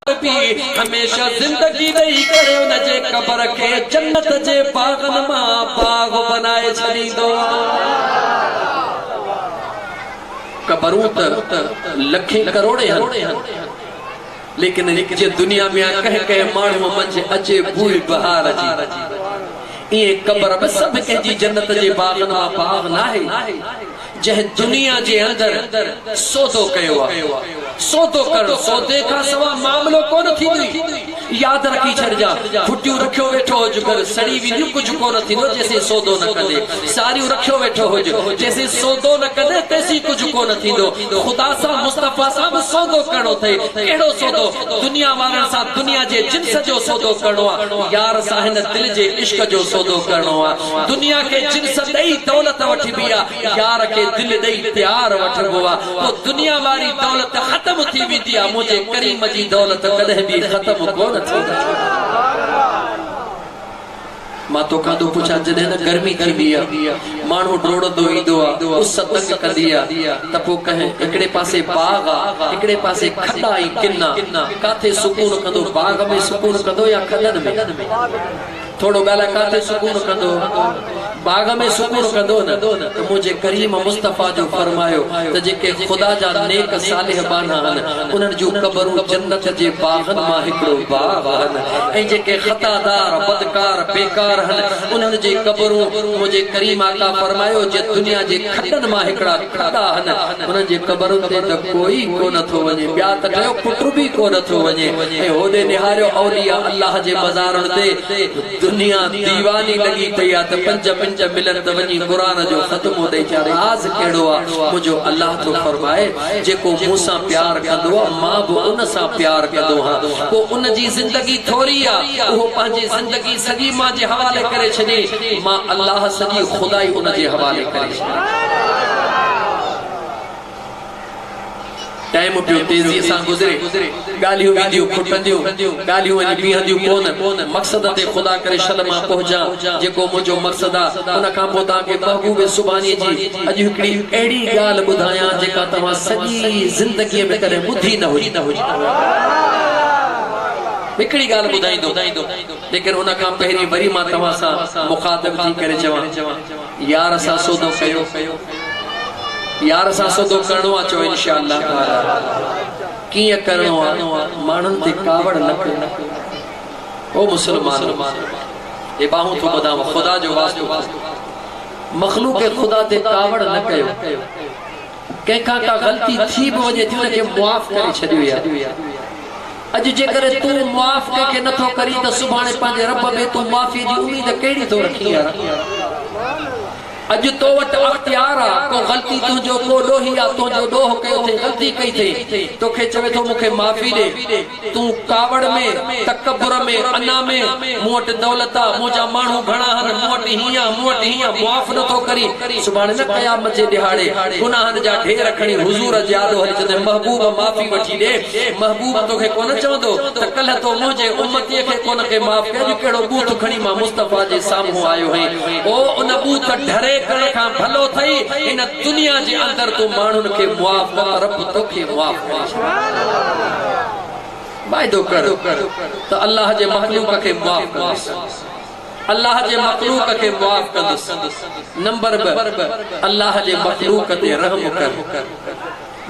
هميشه زندگي ڏئي ڪري ان جي قبر کي جنت جي باغن مان باغ بنائي ڇڏيندو قبرون ته لکين ڪروڙين هن ليڪن جي دنيا ۾ ڪنهن ڪنهن ماڻهو منجهه اچي بوئي بهار جي ايئن قبر به سڀ ڪنهن جي جنت جي باغن مان باغ ناهي جنهن دنيا جي اندر سودو ڪيو آهي، سودو ڪرڻ، سودي کان سوا معاملو ڪونه ٿيندوئي. ياد رکي ڇڏجان، ڦٽيون رکيو ويٺو هج، گهر سڙي وينديون، ڪجهه ڪونه ٿيندو جيسين سودو نه ڪندي. ساريون رکيو ويٺو هج، جيسين سودو نه ڪندي تيسين ڪجهه ڪونه ٿيندو. خدا سان، مصطفيٰ سان به سودو ڪرڻو اٿئي. ڪهڙو سودو؟ دنيا وارن سان دنيا جي جنس جو سودو ڪرڻو آهي. يار سان هن دل جي عشق جو سودو ڪرڻو آهي. دنيا کي جنس ڏئي دولت وٺبي آ يار کي دل ڏئي پيار وٺبو آ پو دنيا واري دولت ختم ٿي ويندي آ منهنجي ڪريم جي دولت ڪڏهن به ختم ڪونه ٿيندي. مان توکان ٿو پڇان جڏهن نه گرمي ٿيندي آ ماڻهو ڊوڙندو ايندو آ اس تنگ ڪندي آ ته پو ڪنهن هڪڙي پاسي باغ آ هڪڙي پاسي کڏا ۽ ڪنا ڪاٿي سڪون ڪندو باغ ۾ سڪون ڪندو يا کڏن ۾. ٿورو ڳالهاء ڪاٿي سڪون ڪندو باغ ۾ سڪون ڪندو نه ته منهنجي ڪريم مصطفيٰ جو فرمايو ته جيڪي خدا جا نيڪ صالح ٻانها هن انهن جون قبرون جنت جي باغن مان هڪڙو باغ هن ۽ جيڪي خطا دار بدڪار بيڪار هن انهن جي قبرون منهنجي ڪريم آقا فرمايو جي دنيا جي کڏن مان هڪڙا ڪپڙا ڏاهن، انهن جي قبرن تي ته ڪوئي ڪونه ٿو وڃي، ٻيا ته ٽيو پٽ به ڪونه ٿو وڃي ۽ هوڏي نهاريو اولياء الله جي مزارن تي، دنيا ديواني لڳي پئي آ ته پنج منٽ ملن ته وڃي قرآن جو ختمو ڏئي اچان، راز ڪهڙو آ، منهنجو الله ٿو فرمائي، جيڪو مون سان پيار ڪندو آ، مان به ان سان پيار ڪندو هان، پوء ان جي زندگي ٿوري آ، اهو پنهنجي زندگي سڄي مان جي حوالي ڪري ڇڏي، مان الله سڄي خدائي ان جي حوالي ڪري ڇڏي. ٽائيم پيو تيزيء سان گذري، ڳالهيون وينديون کٽنديون، ڳالهيون اڄ بيهنديون ڪونهن، مقصد تي خدا ڪري شل مان پهچان، جيڪو منهنجو مقصد آ، ان کان پوء توهان کي محبوب سبحانيء جي اڄ هڪڙي اهڙي ڳالهه ٻڌايان، جيڪا توهان سڄي زندگيء ۾ ڪڏهن ٻڌي نه هجي. هڪڙي ڳالهه ٻڌائيندم، ليڪن ان کان پهرين وري مان توهان سان مخاطب ٿي ڪري چوان. يار سان سودو ڪيو يار سان سودو ڪرڻو آ چؤ انشاء الله تعالٰي ڪيئن ڪرڻو آ ماڻهن تي ڪاوڙ نه ڪيو او مسلمانو هي ٻانهون ٿو ٻڌانو خدا جو واسطو ٿو مخلوق خدا تي ڪاوڙ نه ڪيو ڪنهن کان ڪا غلطي ٿي به وڃي ٿي ان کي معاف ڪري ڇڏيو يا اڄ جيڪڏهن تون معاف ڪنهن کي نٿو ڪرين ته سڀاڻي پنهنجي رب ۾ تون معافي جي اميد ڪهڙي ٿو رکين يار اڄ تو وٽ اختيار آ ڪو غلطي تنهنجو ڪو ڏوهي آ تنهنجو ڏوهه ڪيو ٿئي غلطي ڪئي ٿئي توکي چوي ٿو مون کي معافي ڏي تون ڪاوڙ ۾، تڪبر ۾، انا ۾، مون وٽ دولت آ، منهنجا ماڻهو گهڻا هن، مون وٽ هيئن آ، مون وٽ هيئن آ، معاف نه ٿو ڪرين. سڀاڻي نه قيامت جي ڏهاڙي گناهن جا ڍير کڻي حضور جي آڏو هلي چوندين محبوب معافي وٺي ڏي. محبوب توکي ڪونه چوندو ته ڪلهه تو منهنجي امتيء کي ڪونه ڪي معاف ڪئي، اڄ ڪهڙو ٻوٿ کڻي مان مصطفيٰ جي سامهون آيو هئين. او ان ٻوٿ ڍري ڪرڻ کان ڀلو ٿئي هن دنيا جي اندر تون ماڻهن کي معاف ڪر ته رب توکي معاف. وعدو ڪر ته الله جي مخلوق کي معاف ڪندس الله جي مخلوق کي معاف ڪندس نمبر ٻه الله جي مخلوق تي رحم ڪر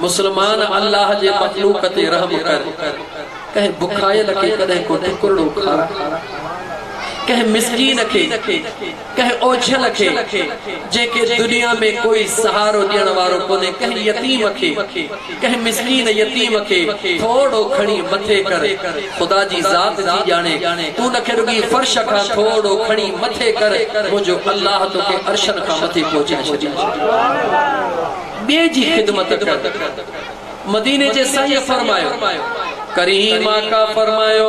مسلمان الله جي مخلوق تي رحم ڪر ڪنهن بکايل کي ڪڏهن ڪو ٽڪرڙو کارا ڪنهن مسڪين کي ڪنهن اوڇل کي جنهنکي دنيا ۾ ڪوئي سهارو ڏيڻ وارو ڪونهي ڪنهن يتيم کي ڪنهن مسڪين يتيم کي ٿورڙو کڻي مٿي ڪر خدا جي ذات ٿي ڄاڻي تون نه کي رڳي فرش کان ٿورڙو کڻي مٿي ڪر منهنجو الله توکي عرشن کان مٿي پهچائي ڇڏيندو ٻئي جي خدمت ڪر مديني جي سائينء فرمايو ڪريم آقا فرمايو.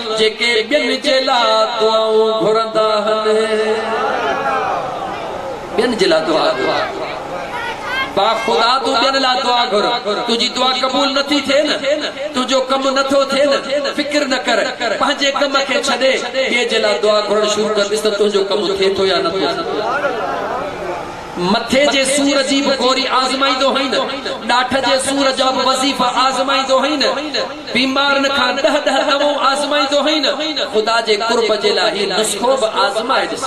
جيڪي ٻين جي لا دعائون گهرندا هن ٻين جي لا دعا گهر با خدا تون ٻين لا دعا گهر تنهنجي دعا قبول نه ٿي ٿئي نه تنهنجو ڪم نه ٿو ٿئي نه فڪر نه ڪر پنهنجي ڪم کي ڇڏي ٻئي جي لا دعا گهرڻ شروع ڪر ڏس ته تنهنجو ڪم ٿئي ٿو يا نه ٿو ٿئي مٿي جي سور جي به گوري آزمائيندو هئين. ڏاٺ جي سور جا به وظيفا آزمائيندو هئين. بيمارن کان ڏهه ڏهه دوائون آزمائيندو هئين. خدا جي قرب جي لاء هي نسخو به آزمائي ڏس.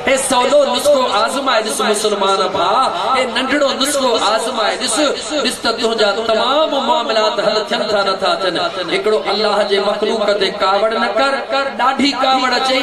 هي سولو نسخو آزمائي ڏس مسلمان ڀاء، هي ننڍڙو نسخو آزمائي ڏس. ڏس ته تنهنجا تمام معاملات حل ٿين ٿا نه ٿا ٿين. هڪڙو الله جي مخلوق تي ڪاوڙ نه ڪر. ڏاڍي ڪاوڙ اچئي.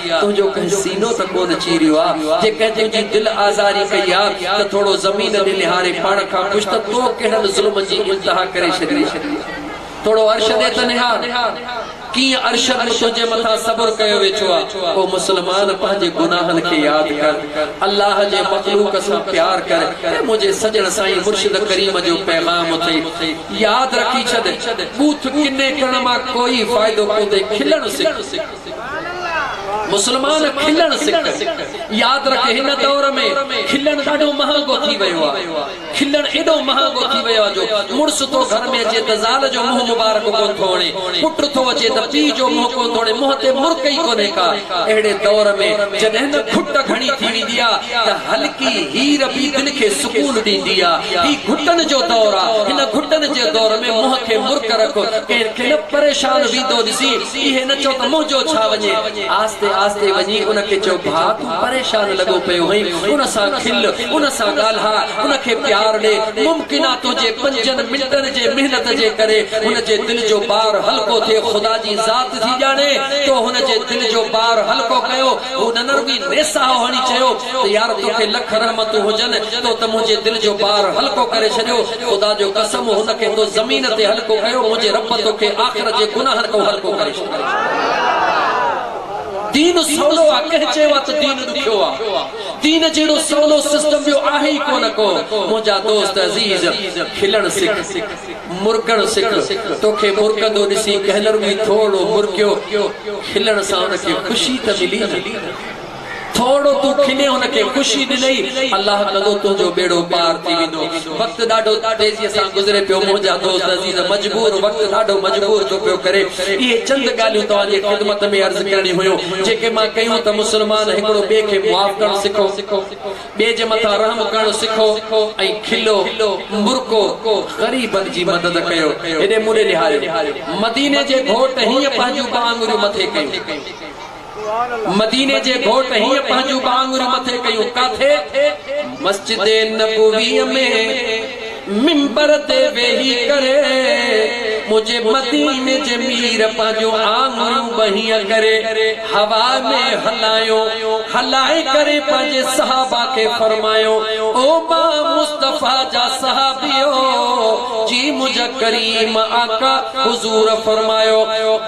تنهنجو ڪنهن سينو ته ڪونه چيريو آ، جي ڪنهن تنهنجي دل آزاري ڪئي آ ته ٿورو زمين ڏي نهاري پاڻ کان پڇ ته تو ڪهڙن ظلمن جي انتها ڪري ڇڏي آ. ٿورو عرش ڏي ته نهار، ڪيئن عرشن ۾ تنهنجي مٿان صبر ڪيو ويٺو آ. او مسلمان! پنهنجي گناهن کي ياد ڪر، الله جي مخلوق سان پيار ڪر ۽ منهنجي سڄڻ سائين مرشد ڪريم جو پيغام اٿئي، ياد رکي ڇڏ، ٻوٿ ڪني ڪرڻ مان ڪوئي فائدو ڪوندي، کلڻ سک. مسلمان کلڻ سکن ياد رک هن دور ۾ کلڻ ڏاڍو مهانگو ٿي ويو آ کلڻ ايڏو مهانگو ٿي ويو آ جو مڙس ٿو گهر ۾ اچي ته زال جو منهن مبارڪ ڪون ٿو وڻي پٽ ٿو اچي ته پيء جو منهن ڪون ٿو وڻي منهن تي مرڪ ئي ڪونهي ڪا اهڙي دور ۾ جڏهن نه گهٽ گهڻي ٿي ويندي آ ته هلڪي هير به دل کي سڪون ڏيندي آ هي گهٽن جو دور آ هن گهٽن جي دور ۾ منهن تي مرڪ رک ڪنهن کي نه پريشان ويندو ڏسين چي هي نه چئو ته منهنجو ڇا وڃي. آهستي آهستي وڃي ان کي چئو ڀاء تون پريشان لڳو پيو هئين، ان سان کل، ان سان ڳالهاء، ان کي پيار ڏي، ممڪن آ تنهنجي پنجن منٽن جي محنت جي ڪري هن جي دل جو بار هلڪو ٿئي خدا جي ذات ٿي ڄاڻي تو هن جي دل جو بار هلڪو ڪيو هو نه نه رڳي نيساهو هڻي چيو ته يار توکي لک رحمتون هجن تو ته منهنجي دل جو بار هلڪو ڪري ڇڏيو خدا جو قسم هن کي تو زمين تي هلڪو ڪيو منهنجي رب توکي آخرت جي گناهن تون هلڪو ڪري ڇڏيندو. دين سولو آ ڪنهن چيو آ ته دين ڏکيو آ دين جهڙو سولو سسٽم ٻيو آهي ئي ڪونه ڪو منهنجا دوست عزيز کلڻ سک مرڪڻ سک توکي مرڪندو ڏسي ڪنهن نه رڳو ئي ٿورڙو مرڪيو کلڻ سان ان کي خوشي ته ملي نه ٿورڙو تون کلين هن کي خوشي ڏنئي الله ڪندو تنهنجو ٻيڙو پار ٿي ويندو وقت ڏاڍو تيزي سان گذري پيو منهنجا دوست عزيز مجبور وقت ڏاڍو مجبور ٿو پيو ڪري اهي چند ڳالهيون توهان جي خدمت ۾ عرض ڪرڻي هيون جيڪي مان ڪيون ته مسلمان هڪڙو ٻئي کي معاف ڪرڻ سکو ٻئي جي مٿان رحم ڪرڻ سکو ۽ کلو مرڪو غريبن جي مدد ڪيو هيڏي مون ڏي نهاريو مديني جي گهوٽ هينئن پنهنجون ٻه آڱريون مٿي ڪيون مديني جي گهوٽ هيئن پنهنجون ٻانگهرون مٿي ڪيون ڪاٿي؟ مسجد نبويء ۾ منبر تي ويهي ڪري منهنجي مديني جي مير پنهنجون آڱريون به هيئن ڪري هوا ۾ هلايون هلائي ڪري پنهنجي صحابه کي فرمايو او ماء مصطفيٰ جا صحابيو جي منهنجا ڪريم آقا حضور فرمايو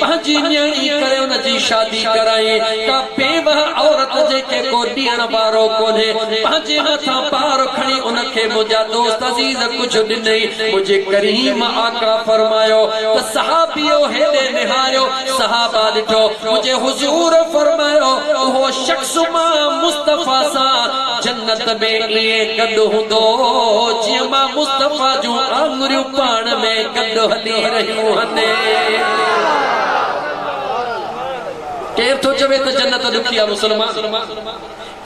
پنهنجي نيڻي ڪري ان جي شادي ڪرائين. ڪا بيوهه عورت جيڪي ڪو ڏيڻ وارو ڪونهي، پنهنجي مٿان بار کڻي ان کي منهنجا دوست عزيز ڪجهه ڏنئي. منهنجي ڪريم آقا فرمايو ته صحابيو هيڏي نهاريو، صحابه ڏٺو، منهنجي حضور فرمايو اهو شخص صبح مصطفيٰ سان جنت ۾ ائين گڏ هوندو جيئن مان مصطفيٰ جون آڱريون پاڻ ۾ گڏ هلي رهيون هن. ڪير ٿو چوي ته جنت ڏکي آ مسلمان؟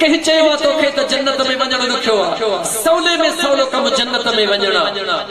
ڪنهن چيو آ توکي ته جنت ۾ وڃڻ ڏکيو آ؟ سولي ۾ سولو ڪم جنت ۾ وڃڻ آ.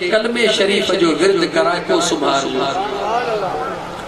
ڪلمي شريف جو ورد ڪرائي پوء سمهار جو.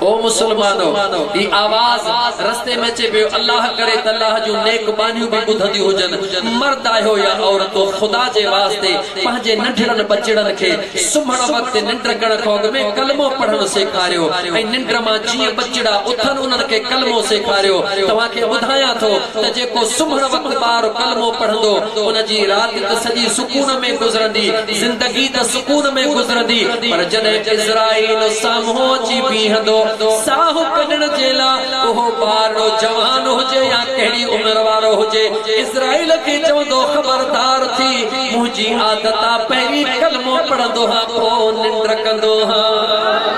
او مسلمانو! هي آواز رستي ۾ اچي پيو، الله ڪري ته الله جون نيڪ ٻانهيون به ٻڌنديون هجن. مرد آهيو يا عورتون خدا جي واسطي پنهنجي ننڍڙن ٻچڙن کي سمهڻ وقت ننڊ ڪرڻ کان اڳ ۾ ڪلمو پڙهڻ سيکاريو ۽ ننڊ مان جيئن ٻچڙا اٿن انهن کي ڪلمو سيکاريو. توهان کي ٻڌايان ٿو ته جيڪو سمهڻ وقت ٻار ڪلمو پڙهندو ان جي رات ته سڄي سڪون ۾ گذرندي، زندگي ته سڪون ۾ گذرندي، پر جڏهن عزرائيل سامهون اچي بيهندو، ساهه ڪڍڻ جي لا، اهو ٻارڙو جوان هجي يا ڪهڙي عمر وارو هجي، عزرائيل کي چوندو، خبردار ٿي، منهنجي عادت آ، پهرين ڪلمو پڙهندو هان، پوء ننڊ ڪندو هان.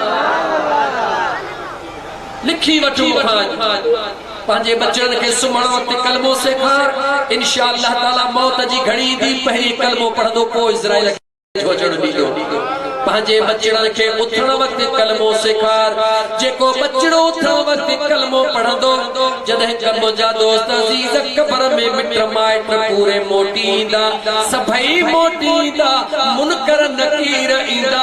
لکي وٺ مون کان اڄ پنهنجي ٻچڙن کي سمهڻ وقت ڪلمو سيکار انشاء الله تعالي موت جي گهڙي ايندي پهرين ڪلمو پڙهندو پوء اسرائيل کي نٿو اچڻ ڏيندو پنهنجي ٻچڙن کي اٿڻ وقت ڪلمو سيکار جيڪو ٻچڙو اٿڻ وقت ڪلمو پڙهندو جڏهن ڪم جا دوست عزيز قبر ۾ مٽ مائٽ پوري موٽي ايندا سڀئي موٽي ايندا منڪر نڪير ايندا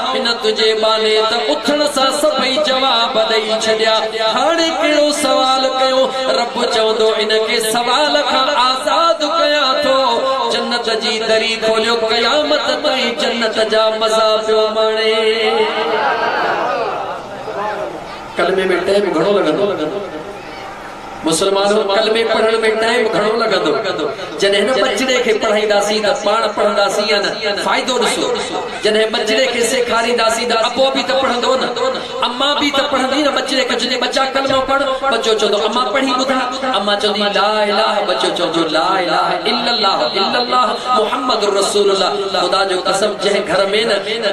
آئون تنهنجي ٻانهي ته اٿڻ سان سڀئي جواب ڏئي ڇڏيا. هاڻي ڪهڙو سوال ڪيون؟ رب چوندو ان کي سوال کان آزاد ڪيان ٿو. جنت جي دري کوليو قيامت تائين جنت جا مزا پيو ماڻي. ڪلمي ۾ ٽيم گهڻو لڳندو. مسلمانو! ڪلمي پڙهڻ ۾ ٽائيم گهڻو لڳندو. جڏهن هن ٻچڙي کي پڙهائينداسين ته پاڻ پڙهنداسين يا نه؟ فائدو ڏسو. جڏهن ٻچڙي کي سيکارينداسين ته ابو به ته پڙهندو نه؟ امان به ته پڙهندي نه؟ ٻچڙي کي چوندين ٻچا ڪلمو پڙهه، ٻچو چوندو امان پڙهي ٻڌاء. امان چوندي لا اله، ٻچو چوندو لا اله الا الله الا الله محمد رسول الله. خدا جو قسم جنهن گهر ۾ نه.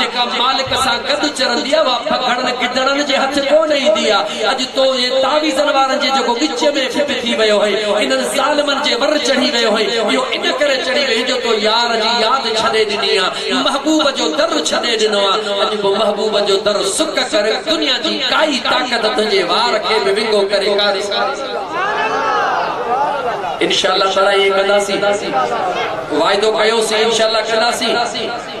جيڪا مالڪ سان گڏ چرندي آ، اها پگهڙن گدڙن جي هٿ ڪونه ايندي آ. اڄ تو ۽ تعويذن وارن جي جيڪو وچ ۾ ڦٽ ٿي ويو هئين، انهن ظالمن جي ور چڙهي ويو هئين، اهو ان ڪري چڙهي ويو جو تو يار جي ياد ڇڏي ڏني آ، محبوب جو در ڇڏي ڏنو آ. اڄ به محبوب جو در سڪ ڪر، دنيا جي ڪائي طاقت تنهنجي وار کي به ونگو ڪري ڪاري نه ڪندي. انشاء الله تعالٰي ائين ڪنداسين. وعدو ڪيوسين انشاء الله ڪنداسين.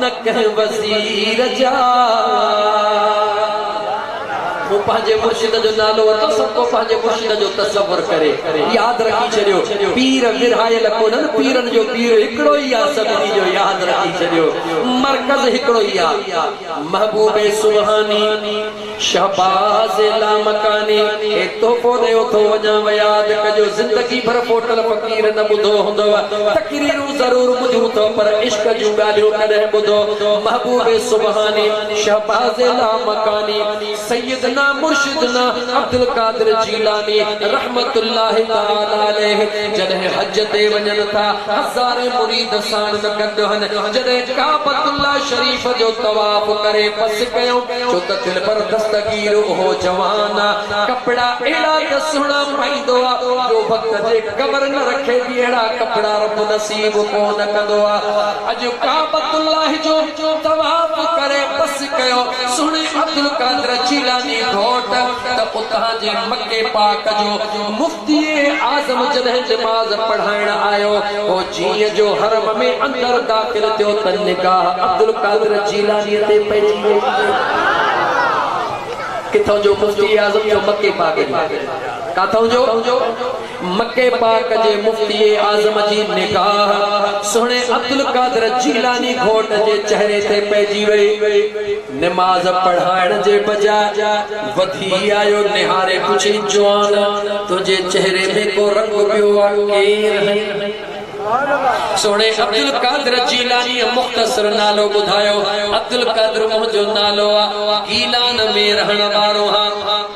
نه ڪنهن وزير جا مون پنهنجي مرشد جو نالو ورتو سڀ ڪو پنهنجي مرشد جو تصور ڪري ياد رکي ڇڏيو پير ورهايل ڪونهن پيرن جو پير هڪڙو ئي آ سڀني جو ياد رکي ڇڏيو مرڪز هڪڙو ئي آ محبوب سبحاني شهباز لامڪاني، هي تحفو ڏيو ٿو وڃان و ياد ڪجو زندگي ڀر پوٽل فقير نه ٻڌو هوندو و تقريرون ضرور ٻڌيون ٿو پر عشق جون ڳالهيون ڪڏهن ٻڌو محبوب سبحاني شهباز لامڪاني سيدنا مرشدنا عبدالقادر جيلاني رحمة الله تعالي عليه جڏهن حج تي وڃن ٿا هزارين مريد ساڻن گڏهن جڏهن ڪعبة الله شريف جو طواف ڪري پس ڪيون ڇو ته دل پر دستگير اهو جوان آ، ڪپڙا اهڙا ته سهڻا پائيندو آ، جو وقت جي قبر نه رکي به اهڙا ڪپڙا رب نصيب ڪو نه ڪندو آ. اڄ ڪعبت الله جو طواف ڪري پس ڪيو، سهڻي عبدالقادر جيلاني گهوٽ ته اتان جي مڪي پاڪ جو مفت تيئن ئي اعظم جڏهن نماز پڙهائڻ آيو، پوء جيئن جو حرم ۾ اندر داخل ٿيو ته نگاهه عبدالقادر جيلانيء تي پئجي وئي. ڪٿون جو مفتي اعظم جو مڪي پاڪ جي. ڪاٿون جو؟ مڪي پاڪ جي مفتي اعظم جي نگاهه سهڻي عبدالقادر جيلاني گهوٽ جي چهري تي پئجي وئي. نماز پڙهائڻ جي بجاء وڌي آيو نهاري پڇي جوان تنهنجي چهري ۾ ڪو رنگ پيو آ ڪير هين؟ سهڻي عبدالقادر جيلانيء مختصر نالو ٻڌايو عبدالقادر منهنجو نالو آ گيلان ۾ رهڻ وارو هان.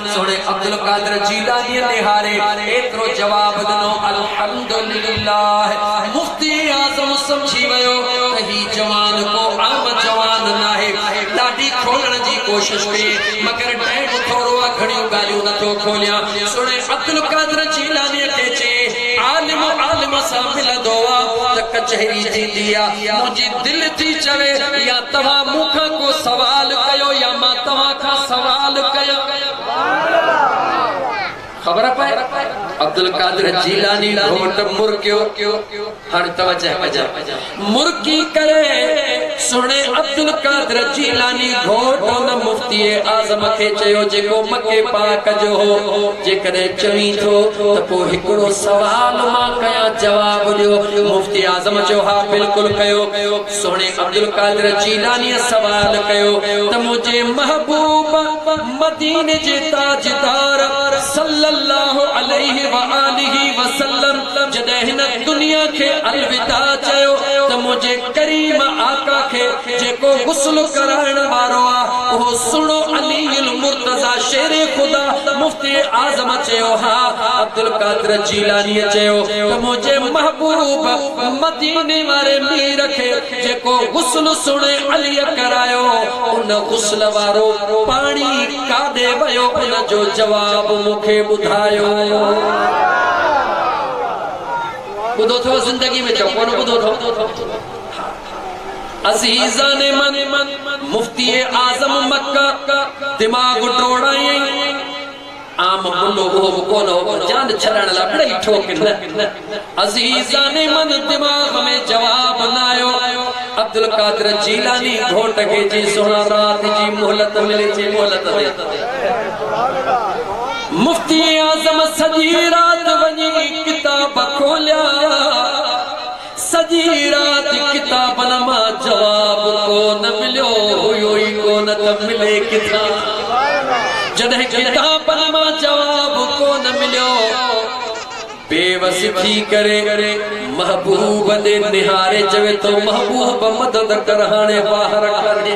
سهڻي عبدالقادر جيلانيء نهاري ايترو جواب ڏنو، الحمدلله! مفتي اعظم سمجهي ويو ته هي جوان ڪو عام جوان ناهي. ڏاڍي کولڻ جي ڪوشش ڪيئي، مگر ڊينهن ٿورو آ، گهڻيون ڳالهيون نه ٿو کوليان. سهڻي عبدالقادر جيلانيء کي چيائين، عالم عالم سان ملندو آ ته ڪچهري ٿيندي آ. منهنجي. دل ٿي چوي يا توهان مون کان ڪو سوال ڪيو يا مان توهان کان سوال ڪيان. خبر پئي عبدالقادر جيلاني گهوٽ مرڪيو هاڻي توجه ڪجان مرڪي ڪري سهڻي عبدالقادر جيلاني گهوٽ ان مفتي اعظم کي چيو جيڪو مڪي پاڪ جو هو جيڪڏهن چوين ٿو ته پوء هڪڙو سوال مان ڪيان جواب ڏيو اعظم چيو، ها بلڪل ڪيو. سهڻي عبدالقادر جيلانيء سوال ڪيو ته منهنجي محبوب مديني جي تاجدار صلّي اللّٰه عليه واٰله وسلّم جڏهن هن دنيا کي الوداع چيو ته منهنجي ڪريم آقا کي جيڪو غسل ڪرائڻ وارو آ اهو سهڻو علي المرتضيٰ شير خدا مفتي اعظم چيو ها عبدالقادر جيلانيء چيو ته منهنجي محبوب مديني واري مير کي جيڪو غسل سهڻي عليء ڪرايو ان غسل وارو پاڻي ڪاڏي ويو ان جو جواب مون کي ٻڌايو ٻڌو اٿئو زندگي ۾ چئو ڪونه ٻڌو اٿئو عزيزان من مفتي اعظم مڪه دماغ ڊوڙائين عام منڊو اهو به ڪونه هو پر جان ڇڏائڻ لاء ٻڙئي ٺوڪ نه عزيزان من دماغ ۾ جواب نه آيو عبدالقادر جيلاني گهوٽ کي جي سهڻا رات جي مهلت ملي ٿي مهلت ڏي مفتي اعظم سڄي رات وڃي ڪتاب کوليا سڄي رات ڪتابن مان جواب ڪو نه مليو هيو ئي ڪو نه ته ملي ڪٿان؟ جڏهن ڪتابن مان جواب ڪو نه مليو، بيوس ٿي ڪري محبوب ڏي نهاري چوي ٿو، محبوب مدد ڪر هاڻي واهر ڪانهي.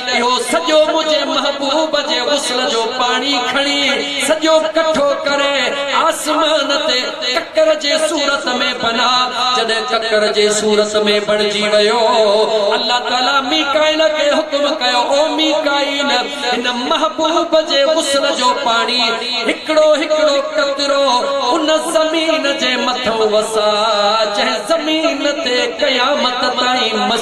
اهو سڄو منهنجي محبوب جي غسل جو پاڻي کڻي سڄو ڪٺو ڪري آسمان تي ڪڪر جي صورت ۾ بنا جڏهن ڪڪر جي صورت ۾ بڻجي ويو الله تعالي ميڪائيل کي حڪم ڪيو او ميڪائيل هن محبوب جي غسل جو پاڻي هڪڙو هڪڙو قطرو ان زمين جي مٿئون وساء جنهن زمين تي قيامت تائين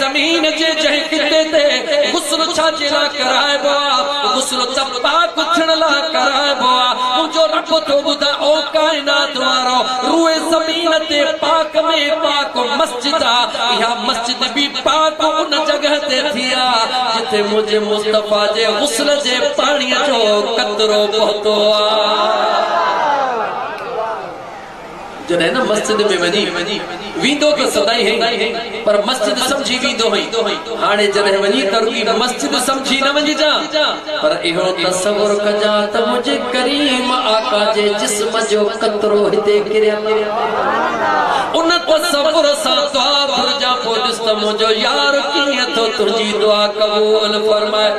زمين جي جنهن خطي تي غسل ڇا جي لاء ڪرائبو آ؟ غسل ته پاڪ ٿيڻ لاء ڪرائبو آ. منهنجو رب ٿو ٻڌاء او ڪائنات وارؤ! روئي زمين تي پاڪ ۾ پاڪ مسجد آ. اها مسجد به پاڪ ان جڳهه تي ٿي آ، جتي منهنجي مصطفيٰ جي غسل جي پاڻيء جو قطرو پهتو آ. جڏهن نه مسجد ۾ وڃي ويندو ته سدائين هئين پر مسجد سمجهي ويندو هئين هاڻي جڏهن وڃي ترڪي مسجد سمجهي نه وڃجان پر اهو تصور ڪجان ته منهنجي ڪريم آقا جي جسم جو قطرو هتي ڪريل آهي ان تصور سان دعا گهرجان پوء ڏس ته منهنجو يار ڪيئن ٿو تنهنجي دعا قبول فرمائي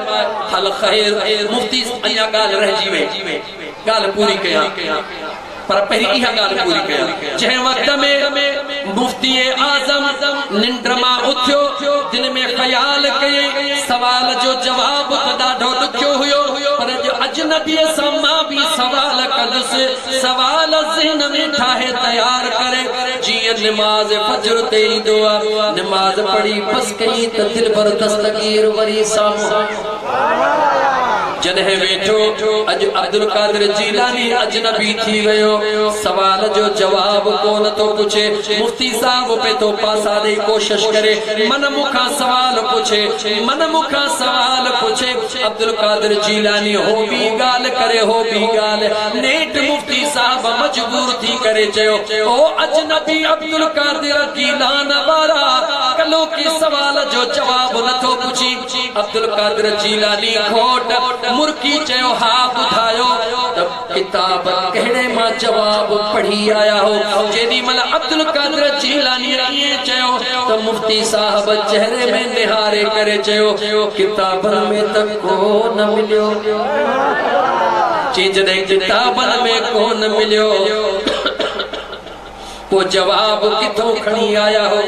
هل خير مفتي اڃا ڳالهه رهجي وئي ڳالهه پوري ڪيان پر پهرين اها ڳالهه پوري ڪيان، جنهن وقت ۾ مفتي اعظم ننڊ مان اٿيو، دل ۾ خيال ڪيئي، سوال جو جواب ته ڏاڍو ڏکيو هيو، پر اڄ اجنبيء سان مان به سوال ڪندس، سوال ذهن ۾ ٺاهي تيار ڪري، جيئن نماز فجر تي ايندو آ، نماز پڙهي بس ڪيئي ته دلبر دستگير وري سامهون. جڏهن ويٺو، اڄ عبدالقادر جيلاني اجنبي ٿي ويو، سوال جو جواب ڪو نه ٿو پڇي، مفتي صاحب به ٿو پاسا ڏئي ڪوشش ڪري، من مون کان سوال پڇي، من مون کان سوال پڇي، عبدالقادر جيلاني هو ٻي ڳالهه ڪري، هو ٻي ڳالهه، نيٺ مفتي صاحب مجبور ٿي ڪري چيو، او اجنبي عبدالقادر جيلان وارا، ڪلهوڪي سوال جو جواب نه ٿو پڇين؟ عبدالقادر جيلاني کوٽ مرڪي چيو ها ٻڌايو ته ڪتاب ڪهڙي مان جواب پڙهي آيا هو جيڏي مهل عبدالقادر جيلاني ائين چيو ته مفتي صاحب چهري ۾ نهاري ڪري چيو ڪتابن ۾ ته ڪو نه مليو چي جڏهن ڪتابن ۾ ڪو نه مليو پو جواب ڪٿو کڻي آيا هو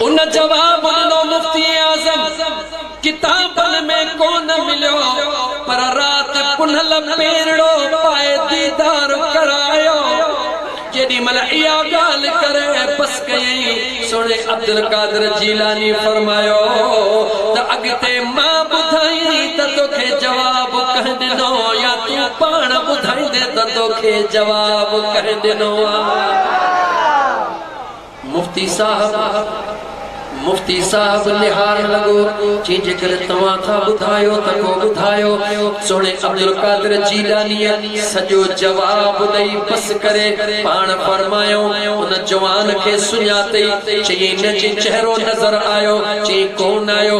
ان جواب ڏنو مفتي اعظم ڪتابن ۾ ڪونه مليو پر رات پنهل پيرڙو پائي ديدار ڪرايو جيڏي مهل اها ڳالهه ڪري بس ڪيائين سوڻي عبدالقادر جيلاني فرمايو ته اڳتي مان ٻڌائين ته توکي جواب ڪنهن ڏنو يا تون پاڻ ٻڌائيندين ته توکي جواب ڪنهن ڏنو آ. مفتي صاحب مفتي صاحب نهارڻ لڳو، چي جيڪڏهن توهان ٿا ٻڌايو ته پوء ٻڌايو. سهڻي عبدالقادر جيڏانيء سڄو جواب ڏئي بس ڪري پاڻ فرمايائون. ان جوان کي سڃاتئي؟ چيائين نه جي چهرو نظر آيو، چيائين ڪونه آيو.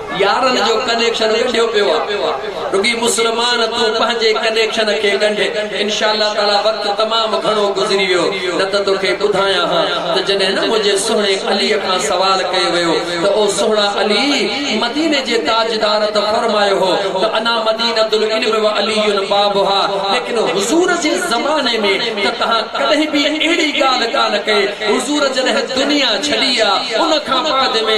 يارن جو ڪنيڪشن ڳنڍيو پيو آ رڳي مسلمان تون پنهنجي ڪنيڪشن کي ڳنڍ انشاء الله تعالي وقت تمام گهڻو گذري ويو نه ته توکي ٻڌايان ها ته جڏهن نه منهنجي سهڻي علي کان سوال ڪيو ويو ته او سهڻا علي مديني جي تاجدار ته فرمايو هو ته انا مدينة العلم وعلي بابها ليڪن حضور جي زماني ۾ ته تهان ڪڏهن به اهڙي ڳالهه ڪانه ڪئي حضور جڏهن دنيا ڇڏي آ ان کان بعد ۾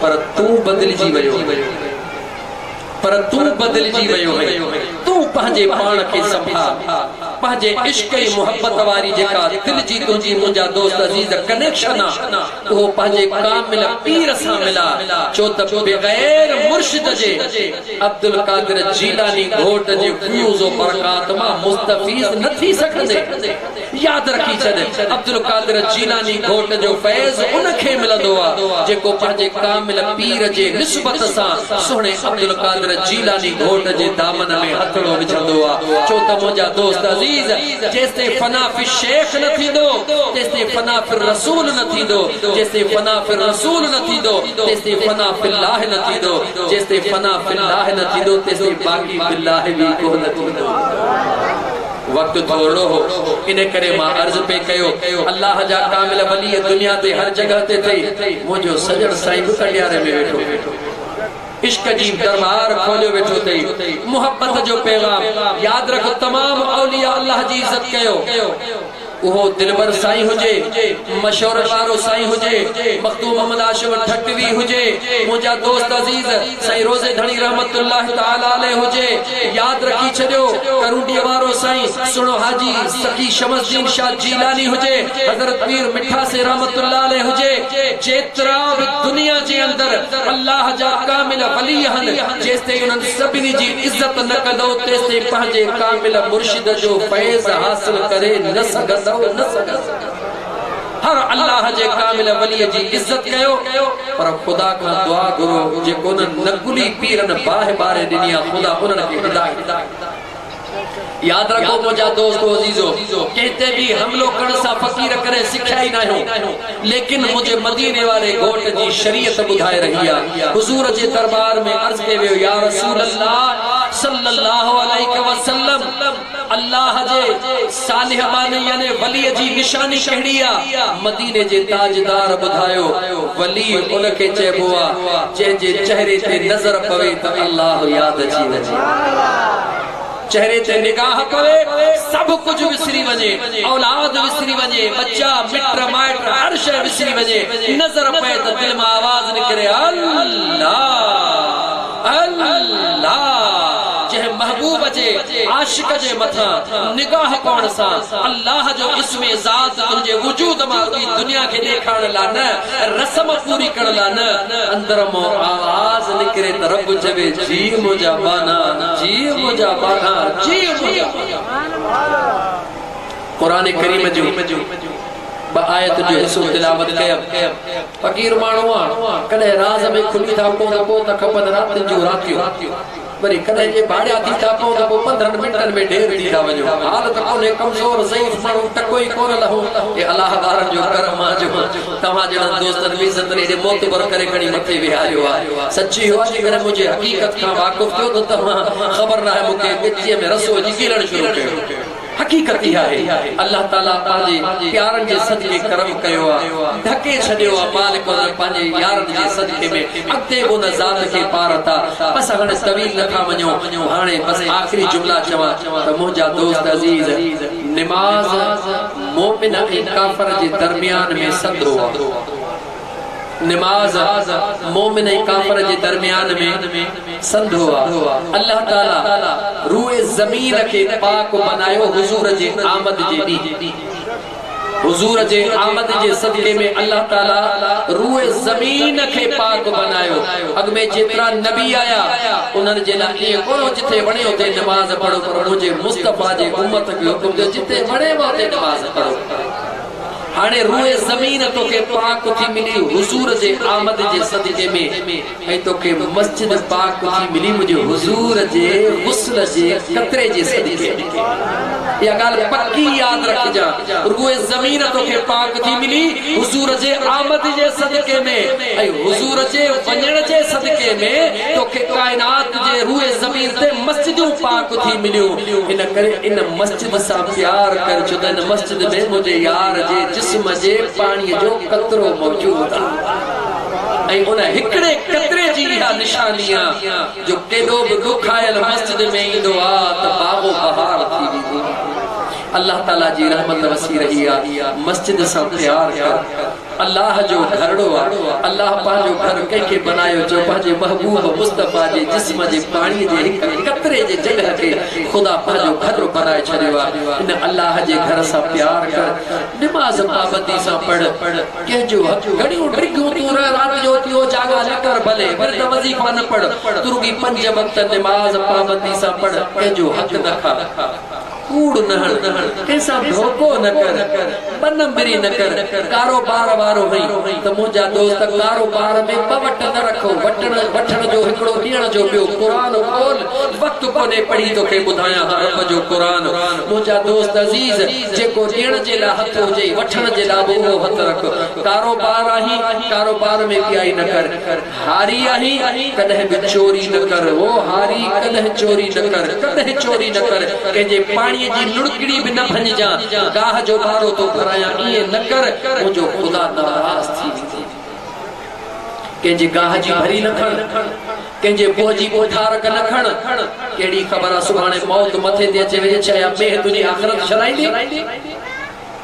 پر تون بدلجي ويو هئين پر تون بدلجي ويو هئين تون پنهنجي پاڻ کي سنڀال پنهنجي عشق ۽ محبت واري جيڪا دل جي تنهنجي منهنجا دوست عزيز ڪنيڪشن آ اهو پنهنجي ڪامل پير سان ملا ڇو ته بغير مرشد جي عبدالقادر جيلاني گهوٽ جي فيوض و برڪات مان مستفيض نه ٿي سگهندي. ياد رکي ڇڏ، عبدالقادر جيلاني گهوٽ جو فيض ان کي ملندو آ، جيڪو پنهنجي ڪامل پير جي نسبت سان سهڻي عبدالقادر جيلاني گهوٽ جي دامن ۾ هٿڙو وجهندو آ. ڇو ته منهنجا دوست عزيز، جيستائين فنا في الشيخ نه ٿيندو، تيستائين فنا في الرسول نه ٿيندو، جيستائين فنا في الرسول نه ٿيندو، تيستائين فنا في الله نه ٿيندو، جيستائين فنا في الله نه ٿيندو، تيستائين باقي في الله به ڪونه ٿيندو. وقت ٿورڙو هو ان ڪري مان عرض پئي ڪيو الله جا ڪامل ولي دنيا تي هر جڳهه تي ٿئي منهنجو سڄڻ سائين به ڪنڊياري ۾ ويٺو عشق جي درٻار کوليو ويٺو ٿئي محبت جو پيغام ياد رک تمام اولياء الله جي عزت ڪيو اهو دلبر سائين هجي، مشورن وارو سائين هجي، مخدوم محمد هاشم ٺٽوي هجي، منهنجا دوست عزيز سائين روضي ڌڻي رحمة الله تعالٰي عليه هجي، ياد رکي ڇڏيو، ڪرونڊيء وارو سائين سهڻو حاجي سخي شمس الدين شاهه جيلاني هجي، حضرت پير مٺا سين رحمة الله عليه هجي، جيترا به دنيا جي اندر الله جا ڪامل ولي آهن، جيستائين انهن سڀني جي عزت نه ڪندؤ تيستائين پنهنجي ڪامل مرشد جو فيض حاصل ڪري نه سگهندؤ نه سگهندؤ هر الله جي ڪامل ولي جي عزت ڪيو پر خدا کان دعا گهرو جيڪو انهن نڪلي پيرن باهه ٻاري ڏني آ خدا انهن کي هدايت ياد رکو منهنجا دوست و عزيزو! ڪنهن تي به حملو ڪرڻ سان فقير ڪڏهن سکيا ئي ناهيون. ليڪن منهنجي مديني واري گهوٽ جي شريعت ٻڌائي رهي آ. حضور جي دربار ۾ عرض ڪئي ويو يا رسول الله صلّي الله عليه وسلّم! الله جي صالح باني يعني وليء جي نشاني ڪهڙي آ؟ مديني جي تاجدار ٻڌايو، ولي ان کي چئبو آ، جنهن جي چهري تي نظر پوي ته الله ياد اچي وڃي. چهري تي نگاهه پوي، سڀ ڪجهه وسري وڃي، اولاد وسري وڃي، ٻچا، مٽ مائٽ، هر شيء وسري وڃي، نظر پئي ته دل مان آواز نڪري، الله! الله! جنهن محبوب جي عاشق جي مٿان نگاهه پوڻ سان الله جو اسم ذات تنهنجي وجود مان اڏي دنيا کي ڏيکارڻ لا نه، رسم پوري ڪرڻ لا نه، اندر مان آواز نڪري ته رب چوي جي منهنجا ٻانها، جي منهنجا ٻانها، جي منهنجا ٻانها. قرآن ڪريم جون ٻه آيتن جو حصو تلاوت ڪيم. فقير ماڻهو آ، ڪڏهن راز ۾ کلي ٿا پئون ته پوء ته کپن راتين جون راتيون، وري ڪڏهن جي ڀاڙيا ٿي ٿا پئون ته پوء پندرهن منٽن ۾ ڍير ٿي ٿا وڃون. حال ته ڪونهي ڪمزور ضعيف ماڻهو ٽڪو ئي ڪونه لهو. اي الاهه وارن جو ڪرم آ جو توهان جهڙن دوستن مون عزت ڏيئي معتبر ڪري کڻي مٿي ويهاريو آ. سچي هو آ جيڪڏهن منهنجي حقيقت کان واقف ٿيو ته توهان خبر ناهي مون کي ڳچيء ۾ رسو وجهي ڪيلڻ شروع ڪيو. حقيقت اها آهي الله تعالي پنهنجي پيارن جي صدقي ڪرم ڪيو آ ڍڪي ڇڏيو آ مالڪ انهن پنهنجي يارن جي صدقي ۾ اڳتي به ان ذات کي پار اٿا بس هاڻي طويل نه ٿا وڃون هاڻي بس آخري جملا چوان ته منهنجا دوست عزيز نماز مومن ۽ ڪافر جي درميان ۾ سنڌو آ. نماز مومن ۽ ڪافر جي درميان ۾ سنڌو آ. الله تعالي روء زمين کي پاڪ بنايو حضور جي آمد جي ڏينهن. حضور جي آمد جي صدقي ۾ الله تعالي روء زمين کي پاڪ بنايو. اڳ ۾ جيترا نبي آيا انهن جي لاء ائين ڪونه هو جتي وڻي اتي نماز پڙهو پر منهنجي مصطفيٰ جي امت کي حڪم ٿيو جتي وڻيو اتي نماز پڙهو. هاڻي روئي زمين توکي پاڪ ٿي ملي حضور جي آمد جي صدقي ۾ ۽ توکي مسجد پاڪ ٿي ملي منهنجي حضور جي غسل جي قطري جي صدقي ۾ اها ڳالهه پڪي ياد رکجان روئي زمين توکي پاڪ ٿي ملي حضور جي آمد جي صدقي ۾ ۽ حضور جي وڃڻ جي صدقي ۾ توکي ڪائنات جي روئي زمين تي مسجدون پاڪ ٿي مليون ان ڪري ان مسجد مون سان پيار ڪر ڇو ته هن مسجد ۾ منهنجي يار جي جسم جي پاڻي جو قطرو موجود آ ۽ ان هڪڙي قطري جي اها نشاني آ جو ڪيڏو به ڏکايل مسجد ۾ ايندو آ ته باغ و بهار ٿي ويندو آ الله تعالي جي رحمت وسي رهي آ مسجد سان پيار ڪر الله جو گهرڙو آ الله پنهنجو گهر ڪنهن کي بنايو جو پنهنجي محبوب مصطفيٰ جي جسم جي پاڻي جي هڪ قطري جي جڳهه کي خدا پنهنجو گهر بنائي ڇڏيو آ ان الله جي گهر سان پيار ڪر نماز پابندي سان پڙهه ڪنهن جو حق گهڻيون ڊگهيون تون رهه رات جو اٿي هو جاڳا نه ڪر ڀلي ورد وظيفا نه پڙهه تون رڳي پنج وقت نماز پابندي سان پڙهه ڪنهن جو حق نه کاء ڪوڙ نه هڻ، ڪنهن سان ڌوڪو نه ڪر، ٻه نمبري نه ڪر، ڪاروبار وارو هئين ته منهنجا دوست ڪاروبار ۾ ٻه وٽ نه رک، وٽڻ وٺڻ جو هڪڙو ڏيڻ جو ٻيو، قرآن کول، وقت ڪونهي پڙهي توکي ٻڌايان ها رب جو قرآن، منهنجا دوست عزيز جيڪو ڏيڻ جي لاء هٿ هجئي وٺڻ جي لاء به اهو هٿ رک، ڪاروبار آهين ڪاروبار ۾ ٻيائي نه ڪر. هاري آهين ڪڏهن به چوري نه ڪر او هاري ڪڏهن چوري نه ڪر ڪڏهن چوري نه ڪر ڪنهن جي پاڻي جي لڙڪڙي به نه ڀڃجان گاهه جو ٻارو ٿو ڀرايان ائين نه ڪر منهنجو خدا ناراض ٿي ويندو ڪنهن جي گاهه جي ڀري نه کڻ ڪنهن جي بوهه جي ٻوٺارڪ نه کڻ ڪهڙي خبر آ سڀاڻي موت مٿي تي اچي وڃي ڇا يا مينهن تنهنجي آخرت شرائيندي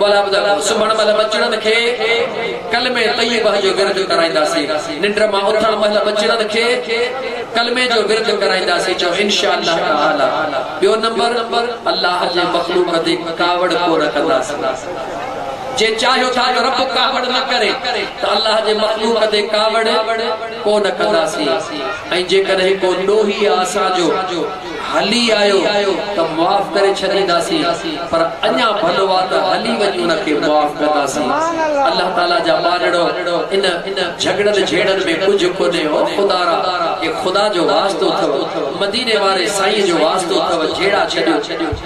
ٻالابدل سمهڻ مهل ٻچڙن کي ڪلمي طيبه جو ورد ڪرائينداسين. ننڊ مان اٿڻ مهل ٻچڙن کي ڪلمي جو ورد ڪرائينداسين. چئو انشاء الله تعالي. ٻيو نمبر الله جي مخلوق تي ڪاوڙ ڪونه ڪنداسين. جي چاهيو ٿا ته رب ڪاوڙ نه ڪري ته الله جي مخلوق تي ڪاوڙ ڪونه ڪنداسين ۽ جيڪڏهن ڪو ڏوهي آ اسان جو هلي آيو ته معاف ڪري ڇڏينداسين پر اڃا ڀلو آ ته هلي وڃ ان کي معاف ڪنداسين الله تعالي جا ٻارڙو ان جهڳڙن جهيڙن ۾ ڪجهه ڪونهي او خدا را اي خدا جو واسطو اٿئو مديني واري سائين جو واسطو اٿئو جهيڙا ڇڏيو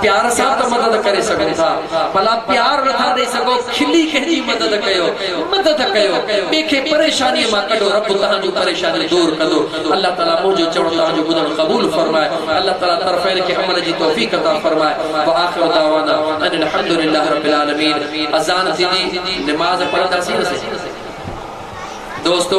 پيار سان ته مدد ڪري سگهو ٿا ڀلا پيار نٿا ڏئي سگهو کلي ڪنهن جي مدد ڪيو مدد ڪيو ٻئي کي پريشاني مان ڪڍو رب توهان جون پريشانيون دور ڪندو الله تعالي منهنجو چوڻ توهان جو ٻڌڻ قبول فرمائي الله تعالي طرفين کي عمل جي توفيق عطا فرمائي واخر دعوانا ان الحمد لله رب العالمين اذان ٿيندي نماز پڙهنداسين نه سائين دوستو